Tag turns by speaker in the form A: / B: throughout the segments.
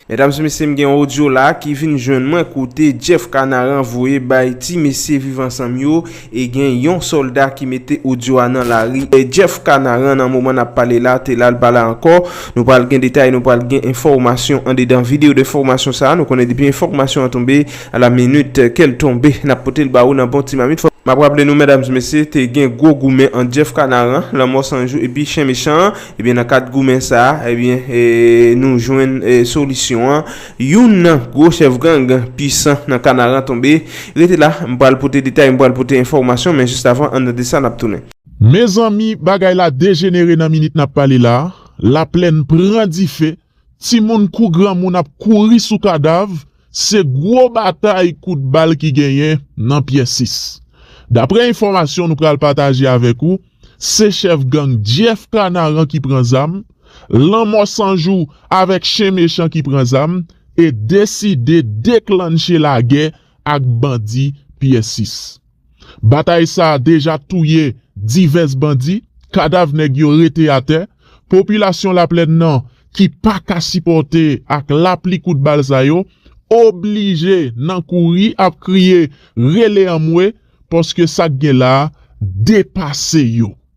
A: Medam se mesye m gen yon odyo la ki vin jwenn mwen kote Jeff Kanaran voye bay ti mesye viv ansanm yo e gen yon solda ki mete odyo a nan lari e Jeff Kanaran nan moman nap pale la te la l pa la ankò nou pral gen detay nou pral gen enfòmasyon andedan video de fòmasyon sa nou konnen depi enfòmasyon an tonbe a la minit ke l tonbe nap pote l ba ou nan bon ti mamit map raple nou medam se mesye te gen gwo goumen ant Jeff Kanaran lanmò sanjou epi chen mechan an. Ebyen nan kad goumen sa a, ebyen nou jwenn solisyon an, youn nan gwo chèf gang pisan nan Kanaran tonbe. Rete la, m pral pote detay, m pral pote enfòmasyon, men jis avan an tande sa n ap tounen. Mezanmi
B: bagay la dejenere nan minit nap pale la, laplèn pran dife Timoun kou granmoun ap kouri sou kadav, se gwo batay kout bal ki genyen nan Pyè 6. Daprè enfòmasyon nou pral pataje avèk ou, se chèf gang Jeff Kanaran ki pran zam, Lanmò San Jou avèk Chen Mechan ki pran zam e deside deklannche lagè ak bandi Pyè 6. Batay sa a deja touye divès bandi, kadav nèg yo rete atè, popilasyon Laplèn nan ki pa ka sipòte ak lapli kout bal sa yo, oblije nan kouri ap kriye rele anmwe paske sa k gen la a depase yo.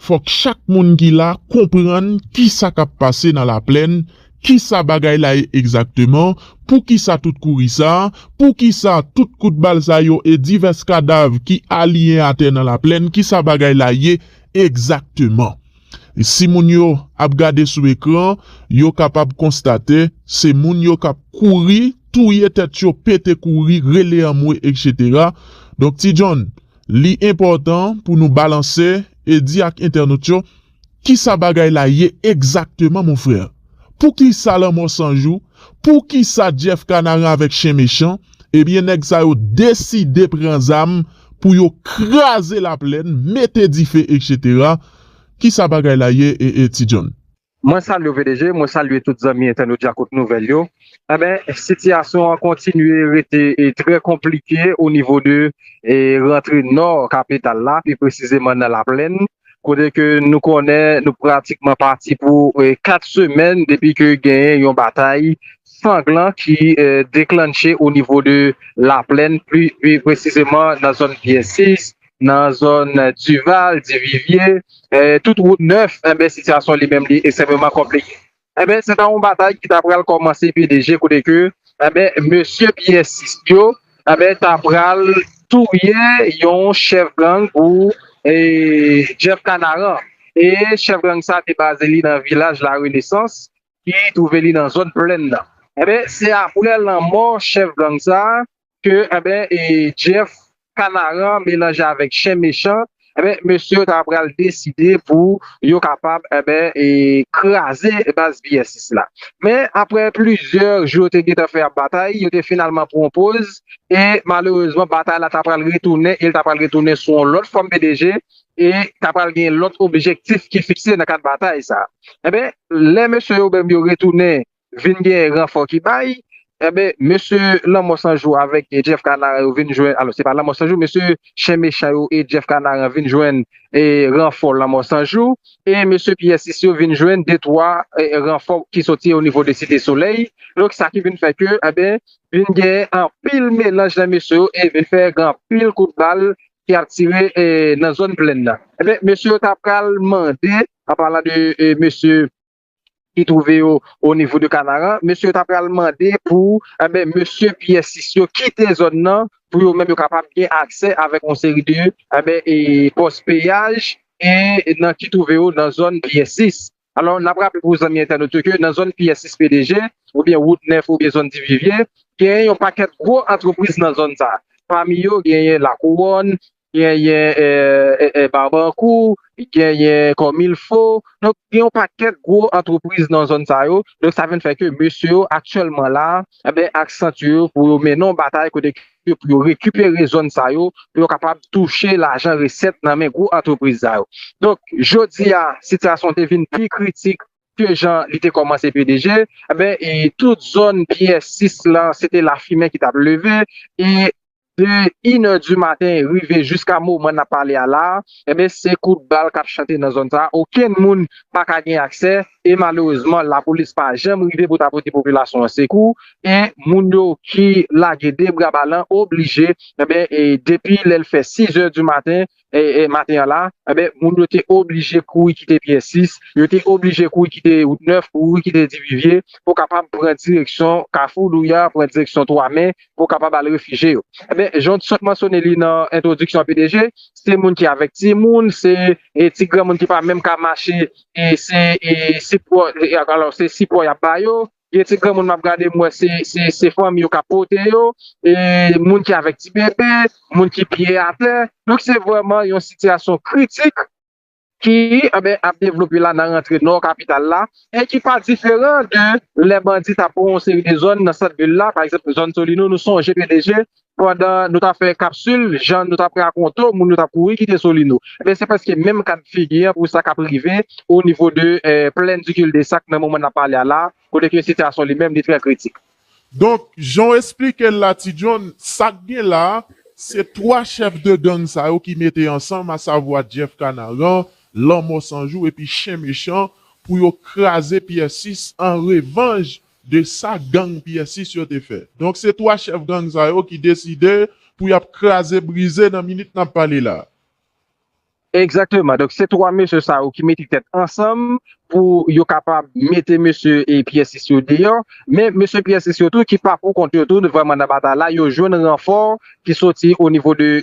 B: Fòk chak moun ki la konprann ki sa k ap pase nan laplèn, ki sa bagay la ye egzakteman, pou ki sa tout kouri sa, pou ki sa tout kout bal sa yo e divès kadav ki aliyen atè nan laplèn, ki sa bagay la ye egzakteman. Si moun yo ap gade sou ekran, yo kapab konstate se moun yo k ap kouri, touye tèt yo, pete kouri, rele anmwe, eksetera. Donk Ti John. Li enpòtan pou nou balanse e di ak entènot yo kisa bagay la ye egzakteman mon frè. Poukisa lanmò san jou, poukisa Jeff Kanaran avèk Chen Mechan, ebyen nèg sa yo deside pran zam pou yo kraze laplèn, mete dife etc. Kisa bagay la ye ee Ti Jhonn? Mwen salye w pdg,
C: mwen salye tout zanmi entènot djakout nouvèl yo, enben sitiyasyon an kontinye rete trè konplike o nivo de rantre nò kapital la pi presizeman nan laplèn kote ke nou konnen nou pratikman pati pou 4 semèn depi ke genyen yon batay sanglan ki deklannche o nivo de laplèn pi presizeman nan zòn pyè 6 nan zòn Duval, Divivye, tout wout nèf, enben sitiyasyon li menm li ekstrèmeman konplike. Enben se ta yon batay ki ta pral kòmanse pi leje kote ke enben mesye piyèsis yo enben ta pral touye yon chèf gang pou Jeff Canaran e chèf gang sa te baze li nan vilaj La Renesans ki twouve li nan zòn Plèn nan. Enben se aprè lanmò chèf gang sa ke enben Jeff kanaran melanje avèk chen mechan enben mesye yo ta pral deside pou yo kapab enben kraze baz psx la men aprè plizyè jou yo te gentan fè ap batay yo te finalman pran yon poz e malerezman batay la ta pral retounen e li ta pral retounen sou yon lòt fòm bdg e ta pral gen lòt objektif ki fikse nan kad batay sa enben lè mesye yo menm yo retounen vin gen ranfò ki bay, enben mesye lanmò san jou avèk Jeff kanaran yo vin jwenn, alò se pa lanmò san jou mesye chen mechan yo e Jeff kanaran vin jwenn ranfò lanmò san jou e mesye Pierre 6 yo vin jwenn de twa ranfò ki soti o nivo de site solèy, donk sa ki vin fè ke enben vin gen anpil melanj nan mesye yo e vin fè gen anpil kout bal ki ap tire nan zòn plèn nan, enben mesye yo ta pral mande an palan de mesye. ki twouve yo o nivo de Kanaran, mesye yo ta pral mande pou enben mesye Pyè Sis yo kite zòn nan pou yo menm yo kapab gen aksè avèk yon seri de enben e pòs peyaj e nan ki twouve yo nan zòn Pyè Sis. Alò n ap raple pou zanmi entènot yo ke nan zòn Pyè Sis PDG oubyen wout 9 oubyen zòn Divivye genyen yon pakèt gwo antrepriz nan zòn sa pami yo genyen Lakouwòn, genyen Barbankou, genyen Kòmilfo, donk gen yon pakèt gwo antrepriz nan zòn sa yo, donk sa vin fè ke mesye yo aktyèlman la, enben aksan ti yo pou yo mennen yon batay kote ke pou yo rekipere zòn sa yo, pou yo kapab touche lajan resèt nan men gwo antrepriz sa yo. Donk jodi a sitiyasyon an te vin pi kritik ke jan li te kòmanse pdg, enben e tout zòn pi es 6 lan se te lafimen ki t ap leve e. De inè di maten rive jiska moman n ap pale a la a, enben se kout bal k ap chante nan zòn sa a, okenn moun pa ka gen aksè e malerezman lapolis pa janm rive pou ta pote popilasyon an sekou e moun yo ki lage de bra balan oblije enben depi lè l fè sizè di maten maten an la, enben moun yo te oblije kouri kite Pyè 6, yo te oblije kouri kite wout 9, kouri kite Divivye pou kapab pran direksyon Kafou Louya, pran direksyon 3 me pou kapab al refije yo. Enben, jan w sot mansyone li nan entwodiksyon an pdg, se moun ki avèk timoun, se ti granmoun ki pa menm ka mache, se sipò y ap ba yo. Gen ti granmoun map gade m wè se fanmi yo kap pote yo, moun ki avèk ti bebe, moun ki pye atè. Donk se vrèman yon sitiyasyon kritik ki ap devlope la nan rantre nò kapital la e ki pa diferan de lè bandi tap pran yon seri de zòn nan sant vil la, pa egzanp zòn Solino nou sonje pdg pandan nou tap fè kapsul jan nou tap rakonte w moun yo tap kouri kite solino ebyen se prèske menm ka de figi an pou sa kap rive o nivo de plèn di kildesak nan moman nap pale a la kote ke sitiyasyon li menm li trè kritik. Donk
B: jan w esplike l la ti John sak gen la se 3 chèf de gang sa yo ki mete ansanm a savwa Jeff kanaran, lanmò sanjou epi chen mechan pou yo kraze pyè 6 an revanj de sa gang pyè 6 yo te fè. Donk se 3 chèf gang sa yo ki deside pou y ap kraze brize nan minit n ap pale la a.
C: Egzakteman, donk se 3 mesye sa yo ki mete tèt ansanm pou yo kapab mete mesye pyè 6 yo deyò, men mesye pyè 6 yo tou ki pa pou kont yo tou vrèman nan batay la, yo jwenn ranfò ki soti onivo de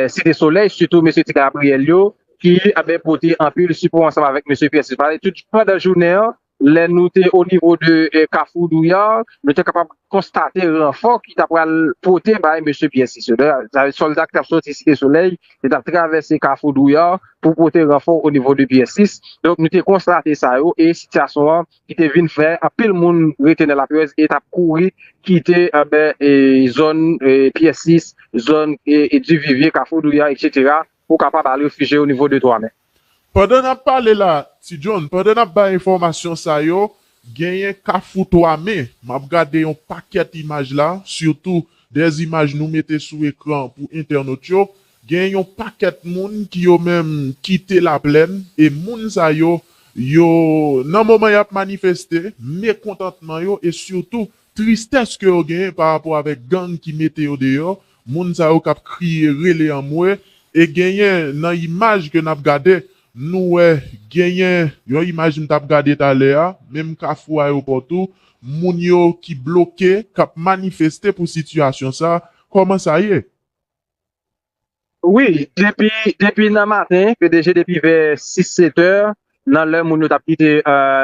C: site solèy sitou mesye ti gabriyèl yo, ki ap pote anpil sipò ansanm avèk Mesye Pierre Silvale tout pandan jounen an, lè nou te o nivo de kafou Douyar, nou te kapab konstate ranfò ki ta pral pote bay Mesye Pierre Silvale, sa vle di sòlda ki t ap sòti Site Solèy, ki t ap travèse kafou Douyar pou pote ranfò o nivo de Pierre 6, donk nou te konstate sa yo e sitiyasyon an ki te vin fè anpil moun rete nan laperèz e t ap kouri kite zòn Pierre 6, zòn Divivye, kafou Douyar etc. Ou kapab al refije yo nivo de twa men. Pandan nap
B: pale la Ti John, pandan nap bay enfòmasyon sa yo, genyen kafou twa men, map gade yon pakèt imaj la, sitou dè imaj nou mete sou ekran pou entènot yo, genyen yon pakèt moun ki yo menm kite laplèn e moun sa yo, yo nan moman yap manifeste mekontantman yo e sitou Tristès ke yo genyen pa rapò avèk gang ki mete yo deyò, moun sa yo kap kriye, rele anmwe, e genyen nan imaj ke nap gade, nou wè genyen yon imaj m tap gade talè a, menm kafou ayopò tou, moun yo ki bloke, kap manifeste pou sitiyasyon sa, kòman sa ye? Wi,
C: depi depi nan maten ke deje depi vè 6 7 è nan lè moun yo tap kite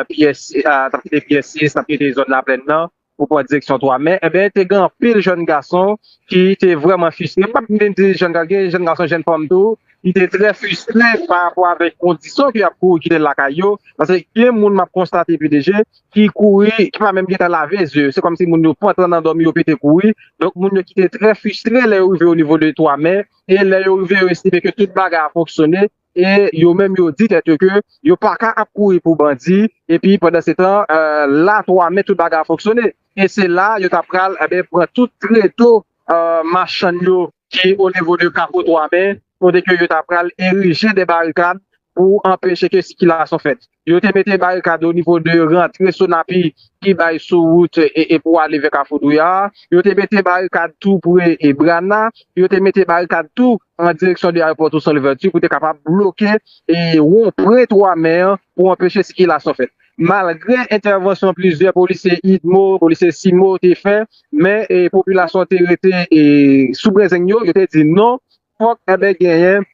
C: pyès tap kite pyè 6 tap kite zòn laplèn nan pou pran direksyon 3 mè enben te gen anpil jèn gason ki te vrèman fistre m pap menm di jèn gason gen jèn gason jèn fanm tou ki te trè fistre parapò avèk kondisyon ke yap kouri kite lakay yo paske gen moun map konstate pi deje ki kouri, ki pa menm gentan lave zye yo, se kòmsi moun yo pran tan nan dòmi yo pete kouri, donk moun yo ki te trè fristre lè yo rive o nivo de 3 me, e lè yo rive yo estime ke tout bagay a fonksyone, e yo menm yo di tèt yo ke yo pa ka ap kouri pou bandi, epi pandan se tan la 3 me tout bagay a fonksyone, e se la yo ta pral enben pran tout treto machann yo ki o nivo de kafou 3 me, kote ke yo ta pral erije de barikad pou anpeche ke sikilasyon fèt. Yo te mete barikad onivo de rantre Sonapi ki bay sou wout e pou ale vè Kafou Douya a. Yo te mete barikad tou pre e Brana. Yo te mete barikad tou an direksyon de Ayewopò Tousan Louvèti pou te kapab bloke e won pre 3 me an pou anpeche sikilasyon fèt. Malgre entèvansyon plizyè polisye idmo, polisye cimo te fè, men popilasyon te rete e sou brezeng yo, yo te di non, fòk enben genyen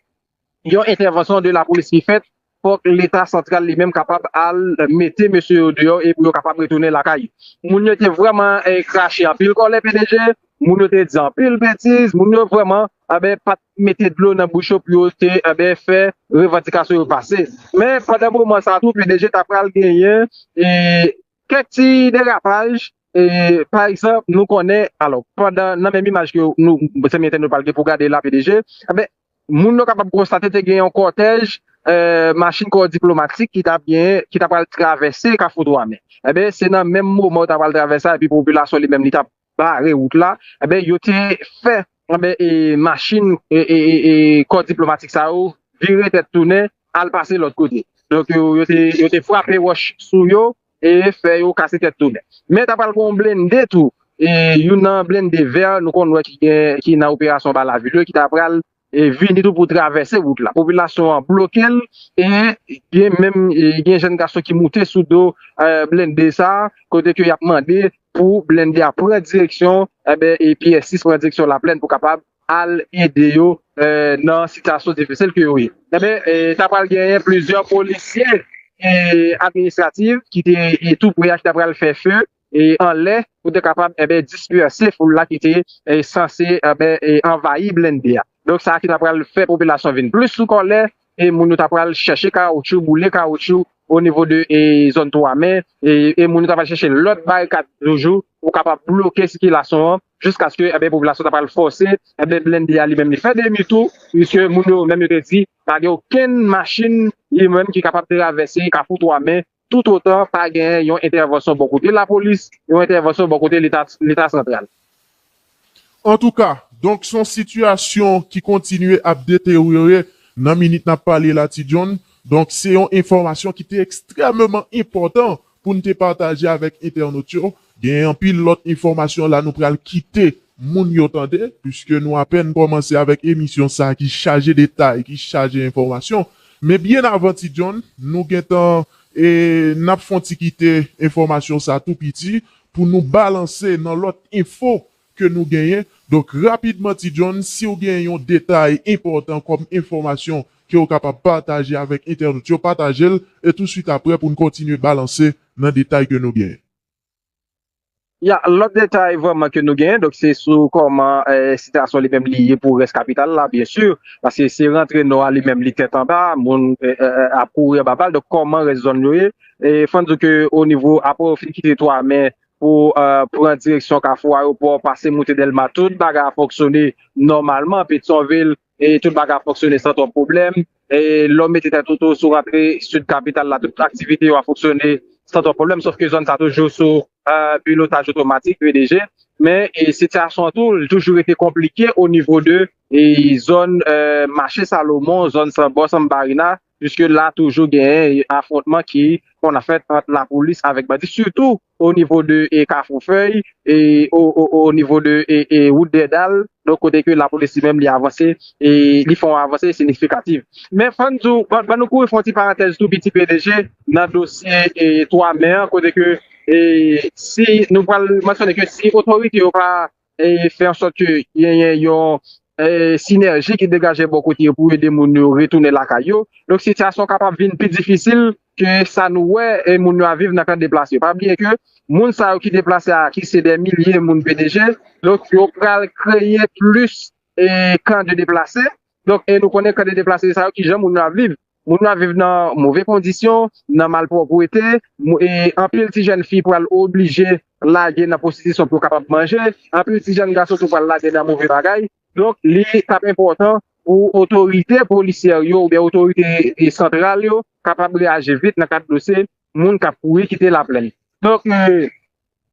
C: Yon entèvansyon de lapolis ki fèt, fòk leta santral li menm kapab al mete mesye yo deyò e pou yo kapab retounen lakay. Moun yo te vrèman krache anpil kòlè pdg, moun yo te di anpil betiz, moun yo vrèman anben pat mete dlo nan bouch yo pou yo te anben fè revandikasyon yo pase. Men pandan moman sa tou pdg ta pral genyen kèk ti derapaj pa egzanp nou konnen alò pandan nan menm imaj ke nou zanmi entènot pral gen pou gade la pdg anben Moun yo kapab konstate te gen yon kòtèj machin kò diplomatik ki ta pral travèse Kafou Dwanmen. Enben, se nan menm moman yo ta pral travèse la epi popilasyon li menm li ta bare wout la, enben yo te fè machin kò diplomatik sa yo vire tèt tounen al pase lòt kote. Donk yo te frape wòch sou yo. e fè yo kase tèt tou nèf. Men ta pral gen yon blende tou, youn nan blende vè nou konn wè ki nan operasyon ba lavi yo ki ta pral vini tou pou travèse wout la. Popilasyon an bloke l e gen menm gen jèn gason ki moute sou do blende sa a kote ke y ap mande pou blende a pran direksyon, enben, Pyè 6 pran direksyon Laplèn pou kapab al ede yo nan sitiyasyon difisil ke yo ye. Enben, ta pral genyen plizyè polisye administratif ki te tou pre a ki ta pral fè feu anlè pou te kapab dispèse foul la ki te sanse anvayi blennde a. Donk sa ki ta pral fè popilasyon vin plis sou kòlè e moun yo ta pral chèche kawoutchou, boule kawoutchou o nivo de zòn 3 me e moun yo ta pral chèche lòt barikad toujou pou kapab bloke sikilasyon an. jiskaske enben popilasyon ta pral fòse enben blende a li menm li fè demi tou piske moun yo menm yo te di pa gen okenn machin li menm ki kapab travèse kafou 3 men toutotan pa genyen yon entèvansyon bò kote lapolis yon entèvansyon bò kote leta leta santral.
B: Antouka, donk s on sitiyasyon ki kontinye ap deteryore nan minit n ap pale la Ti John, donk se yon enfòmasyon ki te ekstrèmeman enpòtan Poun te pataje avèk entènot yo, gen anpil lòt enfòmasyon la nou pral kite moun yo tande, puiske nou apèn kòmanse avèk emisyon sa ki chaje detay, ki chaje enfòmasyon. Men byen avan Ti John, nou gentan e nap fon ti kite enfòmasyon sa tou piti pou nou balanse nan lòt enfo ke nou genyen, donk rapidman Ti John siw gen yon detay enpòtan kòm enfòmasyon kew kapab pataje avèk entènot yo patajel e tou swit aprè poun kontinye balanse nan detay ke nou genyen.
C: Ya, lòt detay vrèman ke nou genyen donk se sou kòman sityasyon li menm li ye pou rès kapital la byen si paske se rantre nò a li menm li tèt anba moun ap kouri anba bal donk kòman rès zòn yo ye e fòn diw ke o nivo aprè ou fin kite 3 me Pou pran direksyon kafou ayopò, pase moute Dèlma, tout bagay ap fonksyone nòmalman. Petyonvil, tout bagay ap fonksyone san twòp pwoblèm. Lè w mete tèt ou tou, si w rantre sid kapital la, tout aktivite yo ap fonksyone san twòp pwoblèm. Sof ke zòn sa toujou sou pilotaj otomatik, PDG. Men, sitiyasyon an tou, li toujou rete konplike o nivo de zòn mache Salomon, zòn san bò, san Barinas. Piske la toujou gen afwontman ki konn fèt ant lapolis avèk bandi sitou o nivo de kafou fèy e o nivo de wout dèdal donk kote ke lapolis li menm li avanse e li fè yon avanse sinifikativ. Men fò n di w ban nou kouri fè yon ti parantèz tou piti pdg nan dosye 3 me an kote ke si nou pral mansyone ke si otorite yo pa fè an sòt ke genyen yon sinèji ki degaje bò kote yo pou ede moun yo retounen lakay yo. Donk sitiyasyon kapab vin pi difisil ke sa nou wè moun yo ap viv nan kan deplase yo. Pa bliye ke moun sa yo ki deplase a ki se dè milye moun BDG, donk yo pral kreye plis kan de deplase. Donk e nou konnen kan de deplase sa yo kijan moun yo ap viv. Moun yo ap viv nan move kondisyon, nan malpwòpwete, e anpil ti jèn fi pral oblije lage nan pwostitisyon pou yo kapab manje, anpil ti jèn gason tou pral lage nan move bagay. Donk, li t ap enpòtan pou otorite polisyè yo oubyen otorite santral yo kapab reyaji vit nan kad dosye moun k ap kouri kite Laplèn. Donk,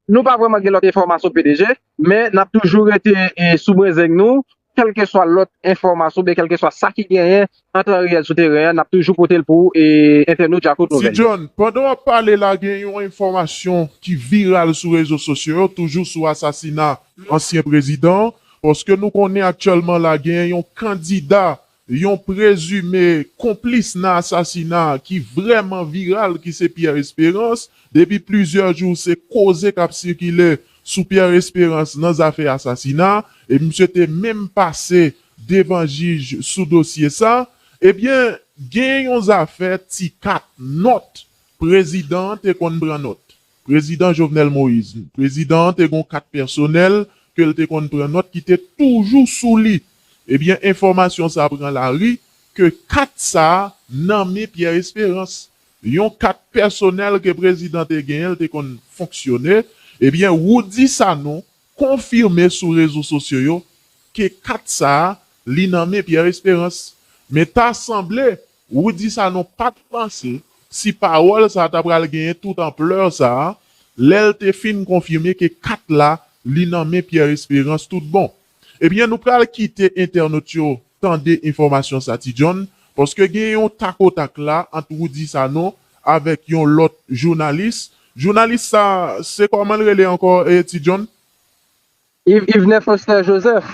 C: Nou pa vrèman gen lòt enfòmasyon pdg, men n ap toujou rete sou brenzeng nou, kèlkeswa lòt enfòmasyon oubyen kèlkeswa sa ki genyen an tan reyèl sou teren an n ap toujou pote l pou entènot Djakout Nouvèl yo. Tijohn, pandan w
B: ap
C: pale
B: la gen yon enfòmasyon ki viral sou rezo sosyo yo toujou sou asasina ansyen prezidan an, paske nou konnen aktyèlman la genyen yon kandida Yon prezime konplis nan asasina ki vrèman viral ki se Pierre Espérance, depi plizyè jou se koze k ap sikile sou Pierre Espérance nan zafè asasina e misye te menm pase devan jij sou dosye sa, ebyen gen yon zafè ti kat nòt prezidan an te konn pran nòt. Prezidan Jovenel Moise, prezidan an te gon kat pèsonèl ke l te konn pran nòt ki te toujou sou li. Ebyen enfòmasyon sa pran lari ke kat sa nan men Pierre Esperance. Yon kat pèsonèl ke prezidan te genyen l te konn fonksyone. Ebyen Roudy Sanon konfime sou rezo sosyo yo ke kat sa li nan men Pierre Esperance. Men ta sanble Rudy Sanon pa t panse si pawòl sa ta pral genyen tout anplè sa lè l te fin konfime ke kat la li nan men Pierre Espérance tout bon. Ebyen nou pral kite entènot yo tande enfòmasyon sa Ti John paske gen yon tak o tak la ant Rudy Sanon avèk yon lòt jounalis, jounalis sa se kòman l rele ankò Ti John?
C: Yvne Foster Joseph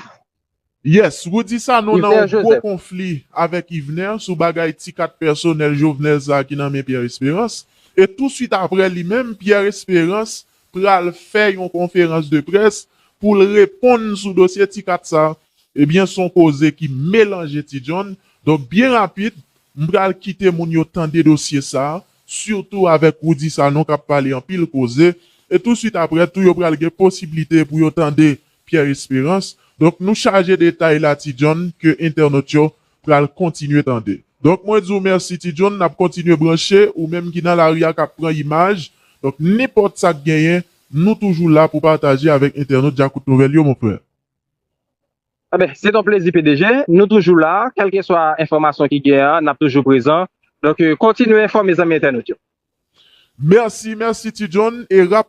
C: Yes,
B: Rudy Sanon nan yon gwo konfli avèk Yvener sou bagay ti kat pèsonèl Jovenel sa ki nan men Pierre Esperance. E tou swit aprè li menm Pierre Esperance pral fè yon konferans de près pou l reponn sou dosye ti kat sa. Ebyen s on koze ki melanje ti John. Donk byen rapid m pral kite moun yo tande dosye sa sitou avèk Rudy Sanon k ap pale anpil koze. E tou swit aprè tou yo pral gen posiblite pou yo tande Pierre Esperance, Donk nou chaje detay la Ti John ke entènot yo pral kontinye tande. Donk mwen di w mèsi Ti John, n ap kontinye branche, ou menm ki nan lari a k ap pran imaj, donk nenpòt sa k genyen nou toujou la pou pataje avèk entènot Djakout Nouvèl yo mon frère.
C: Enben, se t on plezi pdg, nou toujou la, kèlkeswa enfòmasyon ki genyen an n ap toujou prezan, donk kontinye enfòme
B: zanmi
C: entènot yo. Mèsi,
B: mèsi
C: Ti John,
B: e
C: rapidman.